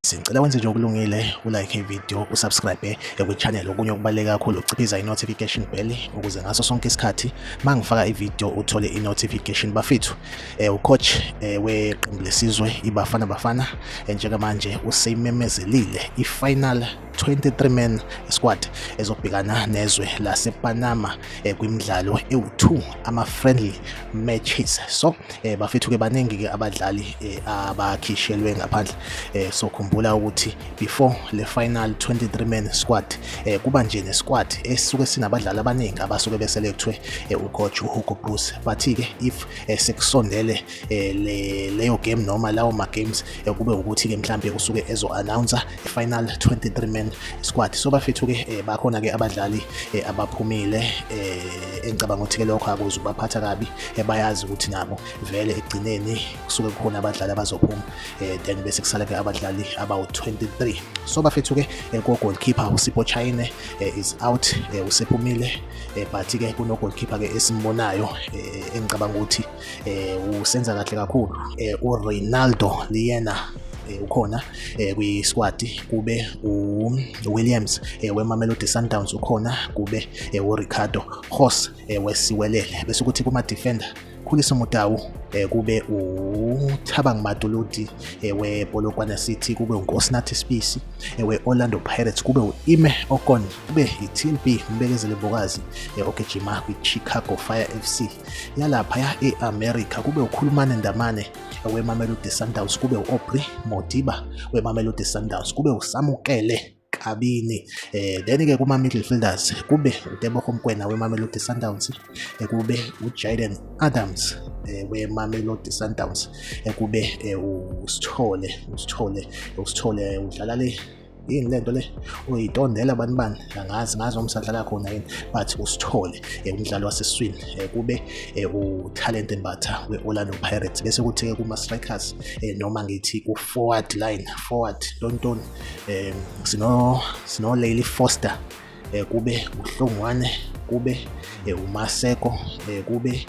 Sicela wenze nje okulungile ulike ivideo usubscribe ekwichannel okunye okubaluleke kakhulu ukuciphiza i-notification bell ukuze ngaso sonke isikhathi uma ngifaka ivideo uthole i-notification bafethu um ucoach um weqembu lesizwe ibafana bafana njengamanje useyimemezelile i-final 23 men squad ezobhekana nezwe lasePanama eh, kwimidlalo ewu2 ama friendly matches so eh, bafethu ke baningi ke abadlali eh, abakhishelwe ngaphandle eh, so khumbula ukuthi before le final 23 men squad eh, kuba nje ne squad esuke sinabadlali abaningi abasuke beselethwe eh, ucoach uHugo Bruce bathi ke if eh, sekusondele eh, le leyo game noma lawo ma games eh, kube ukuthi ke mhlambe kusuke ezo announcer i final 23 man squad so bafethu ke eh, bakhona ke abadlali eh, abaphumile eh, engicabanga ukuthi ke lokho akuze ubaphatha kabi eh, bayazi ukuthi nabo vele egcineni kusuke kukhona abadlali abazophuma eh, then bese kusala ke abadlali abawu 23 so bafethu ke eh, ko goalkeeper uSipho Chine eh, is out eh, usephumile eh, but ke kuno goalkeeper ke esimbonayo eh, engicabanga ukuthi um usenza kahle kakhulu um ureynaldo liyena Eh, ukhona eh, kwi-squad kube uwilliams eh, wemamelodi sundowns ukhona kube uricardo hos wesiwelele bese ukuthi kuma-defender khulisa umutawu kube uthabang matuludi wepolokwana city kube unkosinathi spisi we-orlando pirates kube u-ime okon kube i-tlb mbekezele mbokazi ogijima kwi-chicago fire fc yalaphaya e-america kube ukhulumane ndamane wemamelodi sundowns kube u-aubrey modiba wemamelodi sundowns kube usamukele kabini eh then ke kuma midfielders kube uTebogo Mkwena weMamelodi Sundowns eh, kube uJaden Adams eh, weMamelodi Sundowns eh, kube usithole usithole usithole udlala le yini lento le uyitondela abantu bani angazi ngazi noma usadlala khona yini but usithole eh, umdlali waseswini eh, kube eh, utalent embatha we-orlando pirates bese kuthi-ke kuma-strikers noma ngithi ku-forward line forward tontoni um sinolayli foster um kube uhlongwane kube umaseko um kube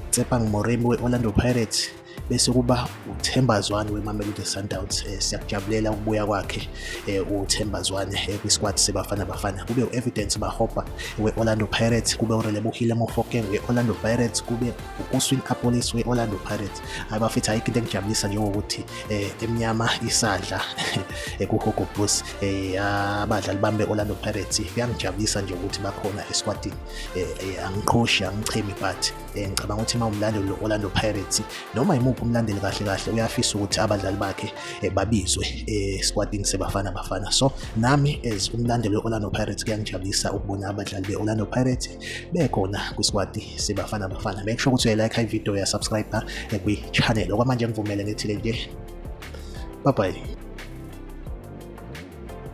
utsepang moremi we-orlando pirates bese kuba uThemba Zwane weMamelodi Sundowns eh, siyakujabulela ukubuya kwakhe eh, uThemba Zwane eh, kwisquad seBafana Bafana kube uEvidence Mahopa we-Orlando Pirates kube uRelebohile Mofokeng we-Orlando Pirates kube uKuswin Apolis we-Orlando Pirates abafethu ayikho into engijabulisa njengokuthi emnyama isadla kuHogo Bulls abadlali bami be-Orlando Pirates kuyangijabulisa nje ukuthi bakhona esquadini angiqhoshi angichemi but Eh, ngicabanga ukuthi uma umlandeli Orlando Pirates noma imuphi umlandeli kahle kahle uyafisa ukuthi abadlali bakhe eh, babizwe eh, esquadini sebafana bafana so nami as umlandeli Orlando Pirates kuyangijabulisa ukubona abadlali be Orlando Pirates bekhona kwisquad sebafana bafana make sure ukuthi uyalike i video ya subscribe kwi channel okwamanje ngivumele ngithile nje bye bye